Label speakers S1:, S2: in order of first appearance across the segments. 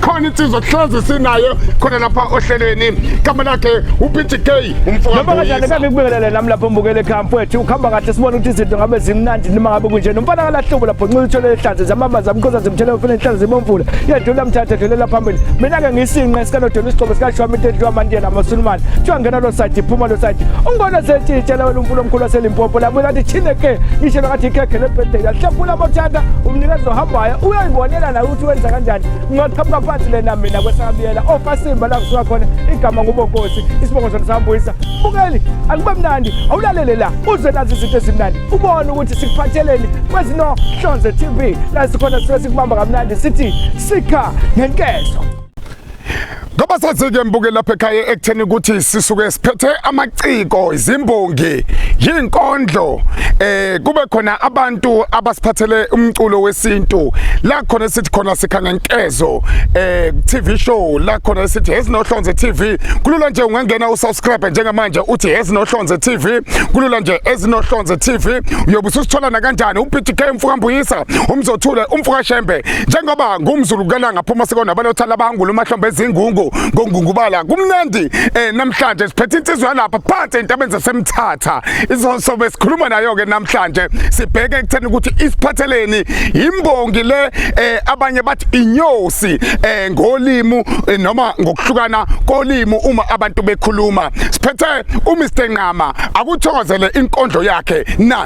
S1: khona insizwa kuhlezi sinayo khona lapha ohlelweni igama lakhe uPG K umfowabo noma kanjani kabe kubingelele nami lapho mbukele ekhaya mfowethu ukhamba kahle sibona ukuthi izinto ngabe zimnandi noma ngabe kunje nomfana kalahlobo lapho nxila uthole ehlanze zamama zamqoza zimthele ufuna inhlanze zibomvula yedlula mthatha dlulela phambili mina ke ngisinqa esikanodela isigqoko sikashwami into edliwa amantiyela amasulumane kuthiwa ngena lo side iphuma lo side ungibona setshitshela wena umfula omkhulu waselimpopo labuye lathi thine ke ngishelwa kathi ikhekhe lebirthday yahlaphula amathanda umnikezi ohambayo uyayibonela naye ukuthi wenza kanjani ngingaqhamuka phansi lena mina kwesakabiyela ofasimba oh, la kusuka khona igama ngubonkosi isibongo sona sambuyisa bukeli akube mnandi awulalele la uze nazi izinto ezimnandi ubone ukuthi sikuphatheleni kwezinohlonze tv la sikhona sisuke sikubamba kamnandi sithi sikha ngenkezo Ngoba sasike mbuke lapha ekhaya ekutheni ukuthi sisuke siphethe amaciko izimbongi yinkondlo eh kube khona abantu abasiphathele umculo wesintu la khona sithi khona sikhanga nkezo eh TV show la khona sithi ezinohlonze TV kulula nje ungangena usubscribe njengamanje uthi ezinohlonze TV kulula nje ezinohlonze TV uyobe usithola na kanjani uPTK mfukambuyisa umzothule umfukashembe njengoba ngumzulu kukananga phuma sikona abanothala abangula umahlombe ezingungu ngongungubala kumnandi eh namhlanje siphethe insizwa yalapha phansi entabeni zasemthatha izosobe sikhuluma nayo ke namhlanje sibheke ekutheni ukuthi isiphatheleni imbongi le eh abanye bathi inyosi eh ngolimu eh, noma ngokuhlukana kolimu uma abantu bekhuluma siphethe uMr Nqama akuthokozele inkondlo yakhe na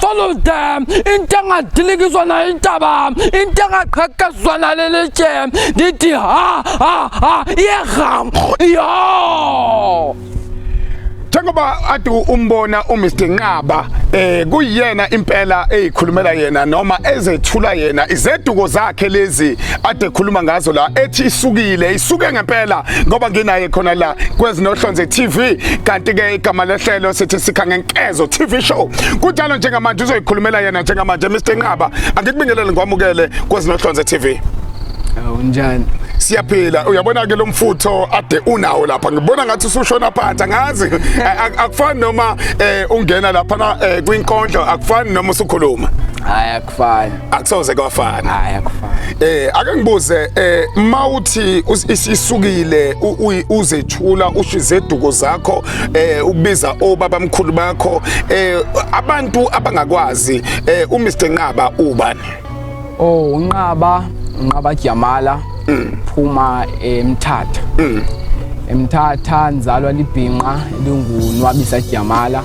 S2: follow them into engadilikiswa nayo intaba into engaqhekezwa naleli tshe ndithi ha ha ha iyeham yo
S1: njengoba ade umbona uMr Nqaba eh kuyena impela eyikhulumela yena noma ezethula yena izeduko zakhe lezi ade khuluma ngazo la ethi isukile isuke ngempela ngoba nginaye khona la kwezinohlonze TV kanti ke igama lehlelo sithi sikha ngenkezo TV show kunjalo njengamanje uzoyikhulumela yena njengamanje Mr Nqaba angikubingelele ngwamukele kwezinohlonze TV unjani
S2: siyaphila
S1: uyabona ke lo mfutho ade unawo lapha ngibona ngathi usushona phansi angazi akufani noma eh, ungena lapha eh, kwinkondlo akufani noma usukhuluma fana
S2: akusoze kwafana
S1: hayi akufani
S2: eh ake ngibuze
S1: eh mawuthi isisukile uzethula ushize eduko zakho eh ubiza obaba mkhulu bakho eh abantu abangakwazi eh uMr Nqaba ubani oh
S2: unqaba unqaba Jamala mm. phuma emthatha mm. emthatha nzalwa libhinqa lingunwabisa Jamala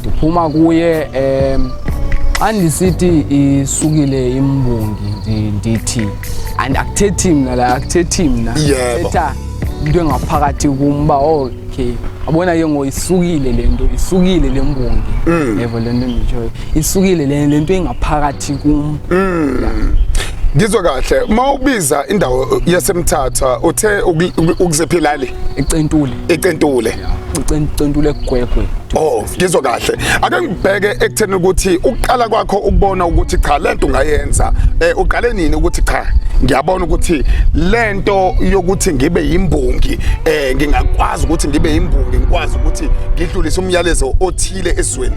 S2: ndiphuma kuye um xa ndisithi isukile imbongi ndi- ndithi and akuthethi mna la akuthethi mna Yebo. thetha into engaphakathi kum uba okay abona ke ngo isukile le nto isukile le mbongi Mm. yebo le nto nditshoyo isukile le le nto engaphakathi kum
S1: ngizwe kahle uma ubiza indawo yasemthatha uthe uku- uku- ukuzephilali ecentuli icentule icentule gwegwe oh ngizwa kahle ake ngibheke ekutheni ukuthi ukuqala kwakho ukubona ukuthi cha lento ungayenza eh uqale nini ukuthi cha ngiyabona ukuthi lento yokuthi ngibe yimbongi eh ngingakwazi ukuthi ngibe yimbongi ngikwazi ukuthi ngidlulise umyalezo othile ezweni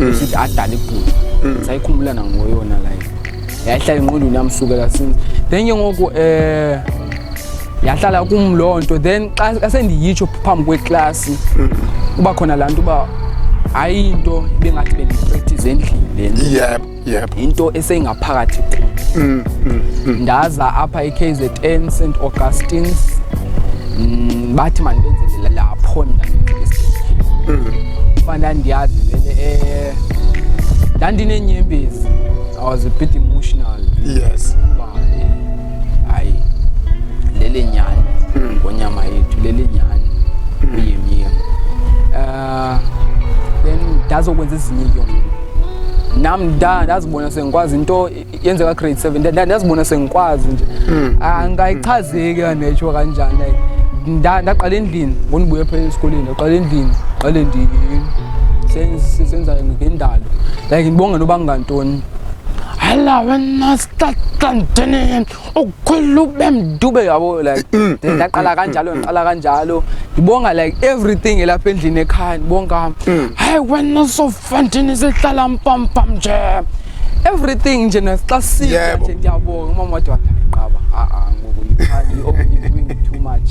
S2: mm. sithi adala ibhuti mm. sayikhumbula nangoyona like yahlala enqondweni yami sukela since then ke ngoku um eh, yahlala kum loo nto then xa sendiyitsho phambi kweklasi mm. kuba khona laa nto uba ayinto bengathi bendipractice endlini lena yep. into esengaphakathi mm, mm, mm. ndaza apha eKZN St Augustine's mm, bathi manibenzele lapho mina mm. fana ndiyazi vele eh ndandinenyembezi i was a bit emotional yes hayi lele nyani mm. ngonyama yethu lele nyani mm. uyemyema ah, then ndazokwenza ezinye yona nam ndazibona sengikwazi into yenzeka grade seven ndazibona sengikwazi nje hmm. angayichazeki ah, netsho kanjani like ndaqala endlini ngondibuye phela esikoleni ndaqala endlini qale ndisenza ngendalo like ndibonge noba ngantoni Hello, when I start continuing, ukukhwela ukube mdube yabo like mm, mm, ndaqala mm, kanjalo ngiqala kanjalo ngibonga like everything elapha endlini ekhaya ngibonga hayi wena sofantini sihlala mpampam nje everything nje nasixa sithe nje ngiyabonga umama wadwa qaba a a ngoku you are too much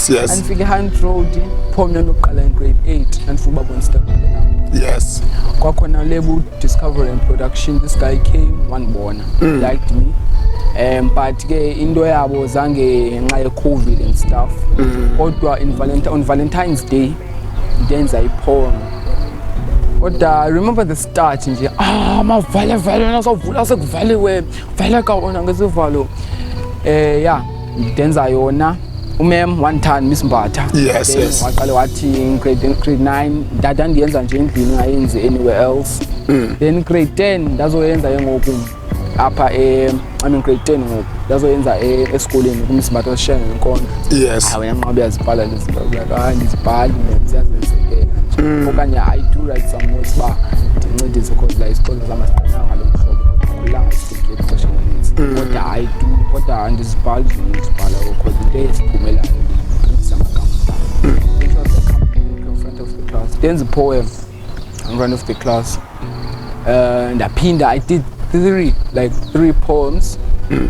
S2: yes andifika
S1: hand
S2: road pho mna ndokuqala in grade 8 andifuna uba bonsitabile nam yes
S1: kwakhona lebu
S2: discovery and production this guy came wandibona mm. liked me um but ke into yabo zange ngenxa ye-covid and stuff mm. kodwa mm. on valentine's day ndenza iphone kodwa remember the start nje ah mavale vale nasavula sekuvaliwe valeka wona ngesivalo um eh, ya yeah. ngidenza yona umem wangithanda miss mbatha yes, yes. waqale wathi grade 9 dada ndiyenza nje endlini ngayenzi anywhere else mm. then grade 10 ndazoyenza ke ngoku apha e I mean grade 10 ngoku ndazoyenza e, esikoleni kumiss mbatha osishenga ngenkondlo yes hayi wena nqobe yazibhala lezi zinto like hayi ah, ndizibhali ziyazenzekela mm. okanye i do write some notes ba ndincedise because la isikolo zama siqinanga lo mhlobo ixesha elininzi mm. kodwa hayi tu kodwa andizibhali zona ndizibhala because into eziphumelayo ndizisa amagama in front of the class ndenza ipoem in front of the class uh, ndaphinda i did three like three poems mm.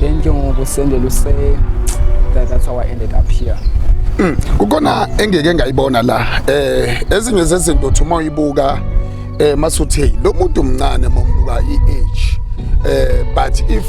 S2: then ke ngoku usendela use that, that's how i ended up here mm. kukhona
S1: engeke ngayibona la eh ezinye zezinto uthi uma uyibuka eh masuthe lo muntu omncane mombuka i-age eh but if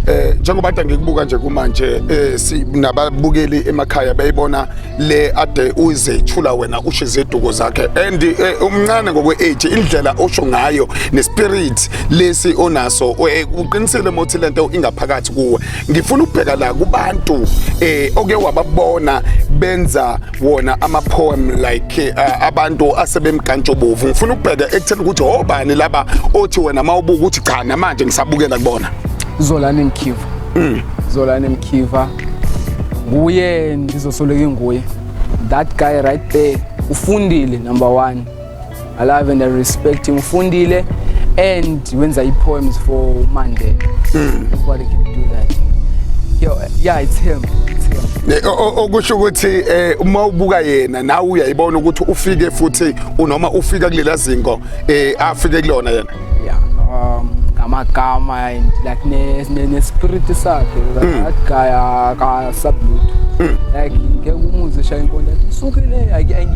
S1: eh njengoba kade ngikubuka nje kumanje eh sinababukeli emakhaya bayibona le ade uyizethula wena usho iziduko zakhe and eh, umncane ngokwe age indlela osho ngayo ne spirit lesi onaso uqinisile mothi lento ingaphakathi kuwe ngifuna ukubheka la kubantu eh oke wababona benza wona ama poem like eh, abantu asebemkantshobovu ngifuna ukubheka ekutheni ukuthi obani oh, laba othi wena mawubuka ukuthi cha namanje ngisabukela kubona Zolani Mkhiva mm.
S2: Zolani Mkhiva nguye ndizosoleka nguye that guy right there ufundile number 1 I love and I respect him. Fundile and wenza i poems for Mandela. Mm. Nobody can do that. Yo, yeah, it's him.
S1: okusho ukuthi eh, uma ubuka yena nawe uyayibona ukuthi ufike futhi unoma ufika kulela zingo eh, afike kulona yena yeah um
S2: ngamagama and like ne ne, ne spirit sakhe like mm. that guy aka sublut mm. like ngeke umuze shaya inkonde athi sukile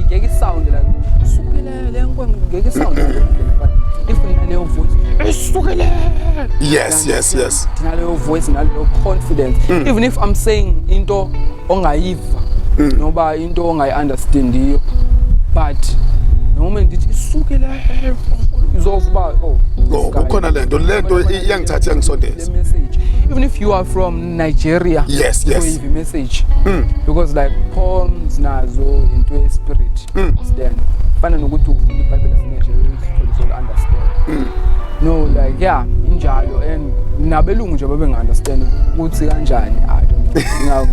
S2: ngeke sound like sukile le nkonde ngeke sound but if naleyo voice isukile yes
S1: yes yes naleyo
S2: voice naleyo confidence mm. even if i'm saying into ongayiva mm. noba into ongayi-understandiyo but noma ndithi isuke la izova uba oh, oh
S1: kukhona le nto le nto iyangithatha iyangisondeza message even if
S2: you are from nigeria yes yes you
S1: message
S2: mm. because like poems nazo into ye-spirit mm. then fana nokuthi ufunda ibhayibheli yasenigeria uthole so understand mm. no like yeah injalo and nabelungu nje babe ngi-understand ukuthi kanjani i don't know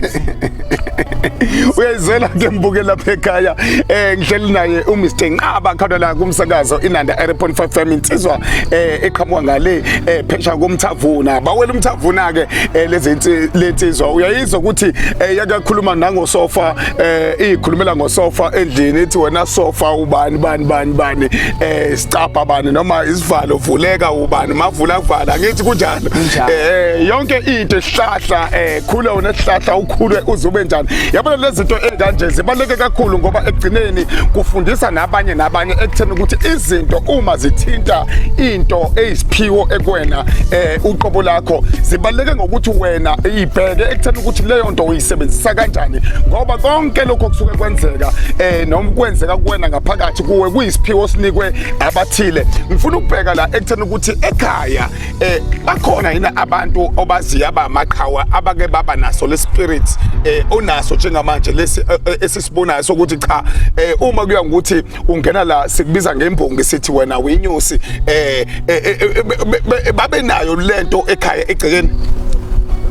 S1: uyayizela ke mbuke lapha ekhaya eh ngihleli naye uMr Nqaba khona la kumsakazo inanda 3.5 FM insizwa eh eqhamuka ngale eh phesha komthavuna bawela umthavuna ke eh, lezi lensizwa uyayizwa ukuthi eh, yakakhuluma nangosofa eh ikhulumela ngosofa endlini ithi wena sofa ubani bani bani bani eh sicapha bani noma isivalo vuleka ubani mavula kuvala ngithi kunjani eh yonke into esihlahla eh khula wena sihlahla ukhule uzube njani yabona lezi zinto ezikanje zibaleke kakhulu ngoba ekugcineni kufundisa nabanye nabanye ekutheni ukuthi izinto uma zithinta into eyisiphiwo ekwena eh uqobo lakho zibaleke ngokuthi wena ibheke ekutheni ukuthi leyo nto sebenzisa kanjani ngoba konke lokho kusuke kwenzeka eh noma kwenzeka kuwena ngaphakathi kuwe kuyisiphiwo sinikwe abathile ngifuna ukubheka la ekuthena ukuthi ekhaya eh bakhona yini abantu obaziya abamaqhawa abake baba naso le spirit eh onaso njengamanje lesi eh, eh, esisibonayo sokuthi cha eh uma kuya ngokuthi ungena la sikubiza ngembongi sithi wena winyosi eh, eh, eh, eh babe nayo lento ekhaya egcekeni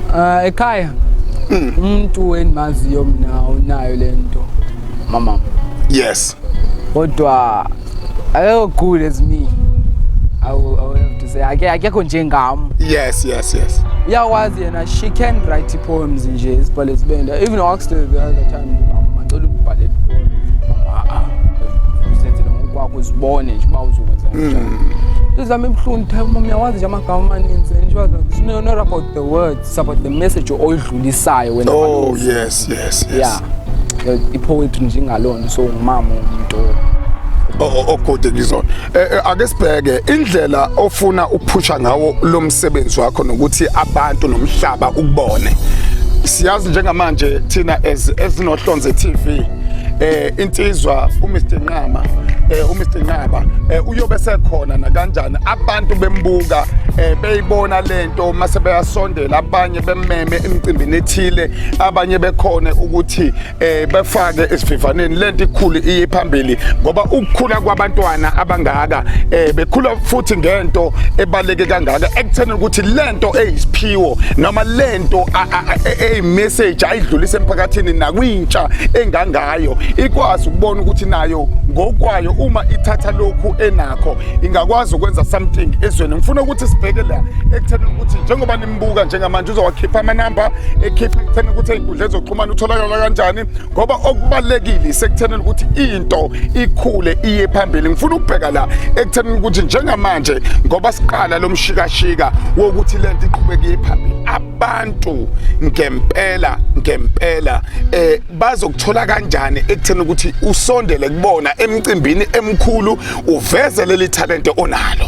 S1: uh,
S2: ekhaya hmm. umuntu endimaziyo mina unayo lento mama yes
S1: kodwa
S2: ayo good as me I will, I will have to say akekho njengam yes yes yes
S1: uyakwazi
S2: yena she can write poems nje isibhale sibenda even I asked her the other time macela ubhale poems ah ah usenzele ngokwakho uzibone nje uba uzokwenza hmm. njani izami ibuhlungu type mom yawazi nje amagama amaninzi and she was like it's not about the words it's about the message oyidlulisayo wena oh yes yes yes
S1: yeah
S2: ipoetry nje ngalona so ngimama umuntu
S1: ogode kizona Eh, eh, ake sibheke indlela ofuna ukuphusha ngawo lo msebenzi wakho nokuthi abantu nomhlaba ukubone siyazi njengamanje thina as ezinohlonze TV eh insizwa uMr Nqama eh uMr Nqaba eh uyobe sekhona nakanjani abantu bembuka eh beyibona lento mase beyasondela abanye bemmeme emcimbini ethile abanye bekhona ukuthi eh befake esivivaneni lento ikhulu iye phambili ngoba ukukhula kwabantwana abangaka eh bekhula futhi ngento ebaleke kangaka ekutheni ukuthi lento eyisiphiwo noma lento ey message ayidlulise emphakathini nakwintsha engangayo ikwazi ukubona ukuthi nayo ngokwayo uma ithatha lokhu enakho ingakwazi ukwenza something ezweni ngifuna ukuthi sibheke la ekutheni ukuthi njengoba buka njengamanje uzowakhipha amanamba ekhipha ekutheni ukuthi ey'nkundla ezoxhumana utholakala kanjani ngoba okubalulekile isekuthenini ukuthi into ikhule iye phambili ngifuna ukubheka la ekuthenini ukuthi njengamanje ngoba siqala lo mshikashika wokuthi le nto iqhubeke iye phambili abantu ngempela ngempela eh bazokuthola kanjani ekutheni ukuthi usondele kubona emcimbini emkhulu uveze leli talente onalo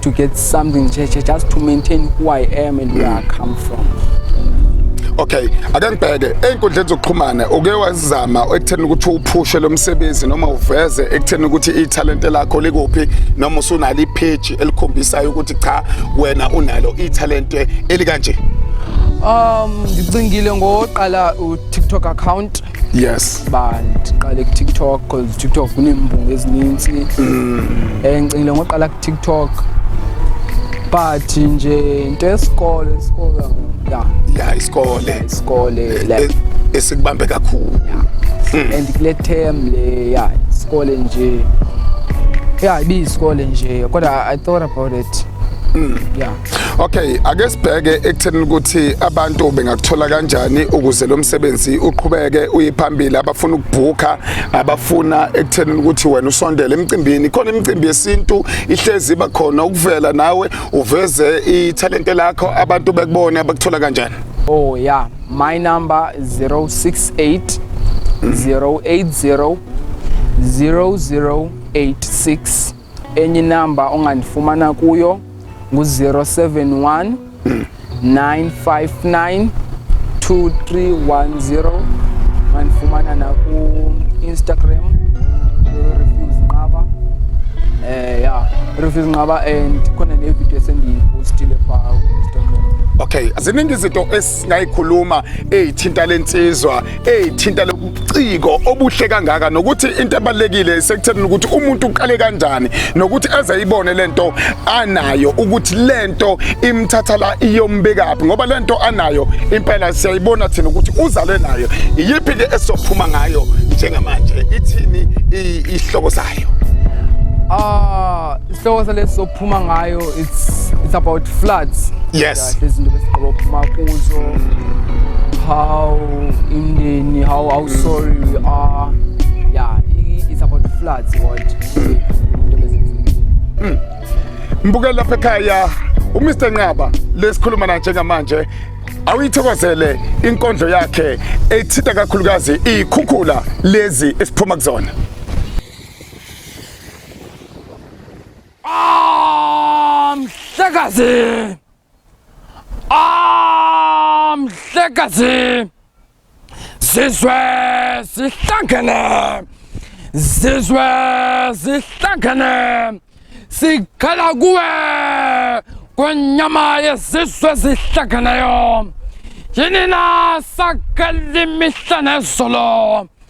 S2: to get something just to maintain who I am and where I come from
S1: okay ake ngibheke ey'nkundleni zokuxhumana uke wazama ekutheni ukuthi uphushe lo msebenzi noma uveze ekutheni ukuthi ithalente lakho likuphi noma usunalo ipheji elikhombisayo ukuthi cha wena unalo ithalente elikanje um ngicingile
S2: ngoqala u-tiktok account yes ba
S1: ndiqale
S2: kutiktok because tiktok kuneembungu ezininzi mm. and ngicingile ngoqala kutiktok but nje into yesikole isikole ya ya isikole isikole e- esikubambe
S1: kakhulu mm. and
S2: kule term le ya isikole nje ya ibiyisikole nje kodwa i thought about it mm. ya
S1: Okay, ake sibheke ekutheni ukuthi abantu bengakuthola kanjani ukuze lo msebenzi uqhubeke uyiphambili abafuna ukubhuka abafuna ekutheni ukuthi wena usondele emcimbini khona imicimbi yesintu ihlezi iba khona ukuvela nawe uveze ithalente lakho abantu bekubone abakuthola kanjani Oh yeah,
S2: my number 068 080 0086 Enye inamba ongandifumana kuyo ngu-071 959 2310 mandifumana naku-instagram refuse nqaba um eh, ya refuse nqaba and khona nevidiyo esendiyipostile phaa ku-instagram okay ziningi
S1: izinto esingayikhuluma eyithinta le nsizwa ethinta lobuciko obuhle kangaka nokuthi into ebalekile sekutheni ukuthi umuntu uqale kanjani nokuthi eze ibone lento anayo ukuthi lento imthatha la iyombekaphi ngoba lento anayo impela siyayibona thina ukuthi uzalwe nayo iyiphi ke esophuma ngayo njengamanje ithini ihloko sayo Ah, uh,
S2: isihloko salesi sokuphuma ngayo it's it's about floods. Yes. kahle izinto
S1: besigqiba ukuphuma kuzo
S2: how imndeni how how sorry we are yeah it's about floods what hmm.
S1: mbukela lapha ekhaya umr nqaba lesikhuluma na njengamanje awuyithokozele inkondlo yakhe ethitha kakhulukazi iy'khukhula lezi esiphuma kuzona Ah, mhlekazi!
S2: Ah, mhlekazi! Sizwe sihlangene! Sizwe sihlangene! Sikhala kuwe kwenyama yezizwe zihlangeneyo! Yini na sakali mihla nezolo!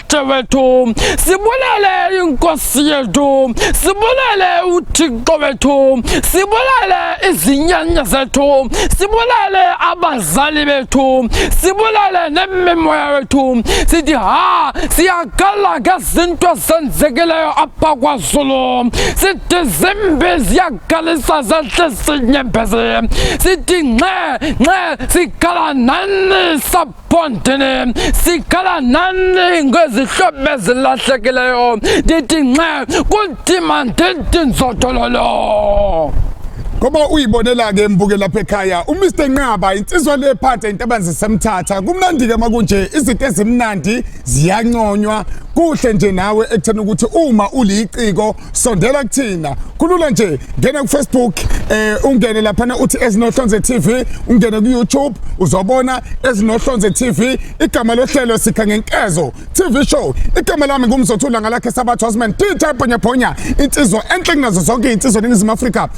S2: Mdade wethu sibulele inkosi yethu sibulele uthixo wethu sibulele izinyanya zethu sibulele abazali bethu sibulele nemimoya wethu sithi ha siyakhala ngezinto ezenzekileyo apha kwazulu sithi zimbi ziyakhalisa zehle sinyembezi sithi nxe nxe sikhala nani sab Fontene sikhala nani ngezihlobo ezilahlekileyo ndithi nxe kunzima ndithi nzothololo ngoba
S1: uyibonela-ke mbuke lapha ekhaya umr nqaba insizwa le phansi eyintabani zisemthatha kumnandi-ke uma kunje izinto ezimnandi ziyanconywa kuhle nje nawe ekutheni ukuthi uma uliciko sondela kuthina kulula nje ngena ku Facebook eh ungene lapha na uthi ezinohlonze TV ungene ku YouTube uzobona ezinohlonze TV igama lohlelo sikha ngenkezo TV show igama lami ngumzothula ngalakhe sabathu Osman Tita Ponya Ponya insizwa enhle kunazo zonke insizwa eNingizimu Afrika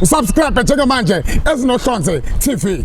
S1: usubscribe njengamanje ezinohlonze TV